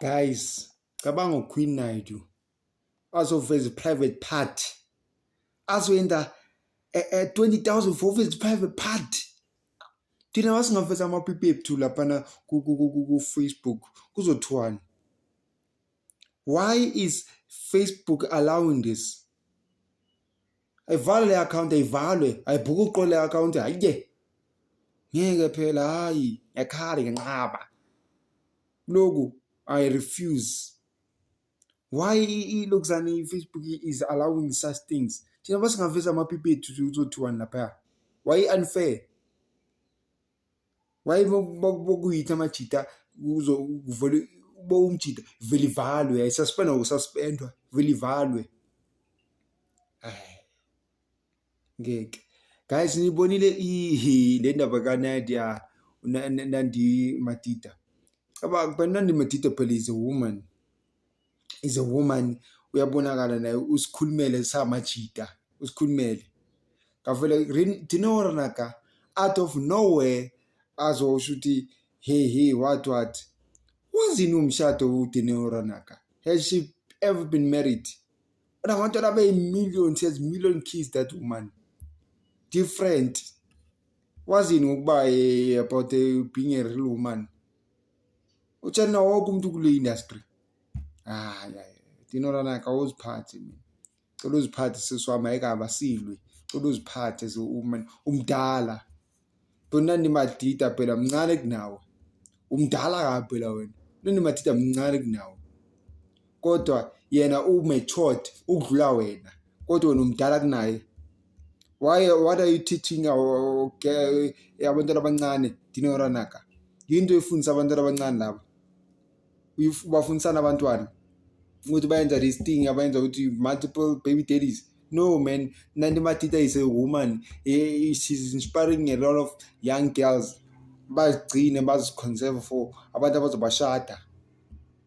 Guys, cabanga uQueen Naidoo azoveza i-private part azoyenda e, e, 20000 for uveza i-private part thina wasingaveza amapipi ethu laphana ku-facebook kuzothiwani why is facebook allowing this ayivale le account ayivalwe ayibhuke uqo le account hayiye ngeke phela hayi yakhala ngenqaba loku i refuse why ilokhuzane i-facebook is allowing such things thina basingaveza amapipi ethu uzothiwani lapha why unfair waye bokuyitha amajita kuzo kuvele uba umjita vele ivalwe yayisuspendwa kususpendwa vele ivalwe ngeke guys nibonile ihi le ndaba kanadia nandi matita cabanga phela nandi matita phela is a woman is a woman uyabonakala naye usikhulumele samajita usikhulumele ngavele dinora naka out of nowhere azosho ukuthi hey hey what what wazini umshado udinora naka has she ever been married unabantwana abeyi-million she has million kids that woman different wazini ngokuba eh, about eh, being a real woman utshela wonke umuntu kule industry hayi hayi dinolana kawuziphathi mina cela uziphathe sisi wami ayikaba silwi cela uziphathe umdala bonani madida phela mncane kunawe umdala kabi phela wena nani madida mncane kunawe kodwa yena u-matured ukudlula wena kodwa wena umdala kunaye why what are you teaching our okay, abantwana abancane dinoranaka yinto efundisa abantwana abancane laba ubafundisana abantwana ukuthi bayenza this thing abayenza ukuthi multiple baby daddies no man nanti matita is a woman eh, she's inspiring a lot of young girls bazigcine baziconserve for abantu abazobashada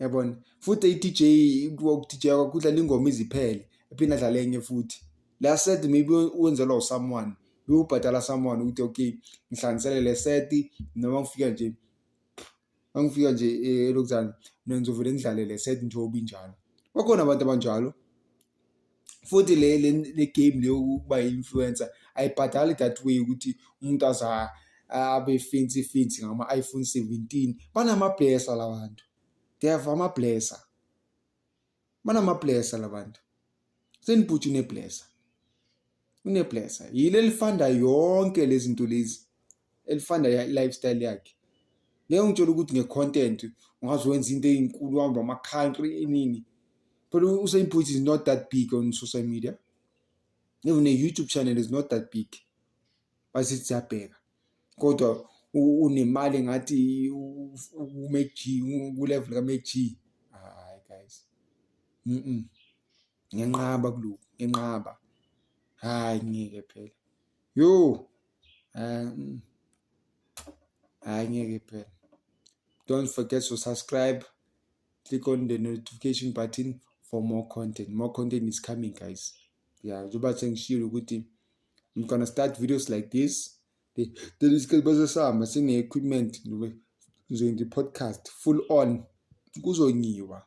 yabona futhi i-DJ ku-DJ kudlala ingoma iziphele ephinde adlale enye futhi la set maybe wenzelwa usomeone bewubhadala someone ukuthi okay ngihlanganisele le set noma ngifika nje angifika nje eh, elokuzana mina ngizovele ngidlale le set njengoba injalo bakhona abantu abanjalo futhi le le game le yokuba influencer ayibhadali that way ukuthi umuntu aza abe fancy fancy ngama iPhone 17 banama blesser labantu they have ama blesser banama blesser labantu senibhuthi ne blesser uneblesa yile lifanda yonke lezi nto lezi elifanda lifestyle yakhe ngeke ungitshela ukuthi nge-content ungaze wenza into eyinkulu uhamba ama-country inini phela usainput is not that big on social media even ne-youtube channel is not that big basithi siyabheka kodwa unemali ngathi umeji kulevel kameji hayi guys mm, -mm. ngenqaba kulokhu ngenqaba hayi ngeke phela yo um hayi ngeke phela don't forget to subscribe click on the notification button for more content more content is coming guys yeah njengoba sengishilo ukuthi i'm gonna start videos like this the the isikhathi basesihamba sine-equipment ngizoyenza i-podcast full on kuzonyiwa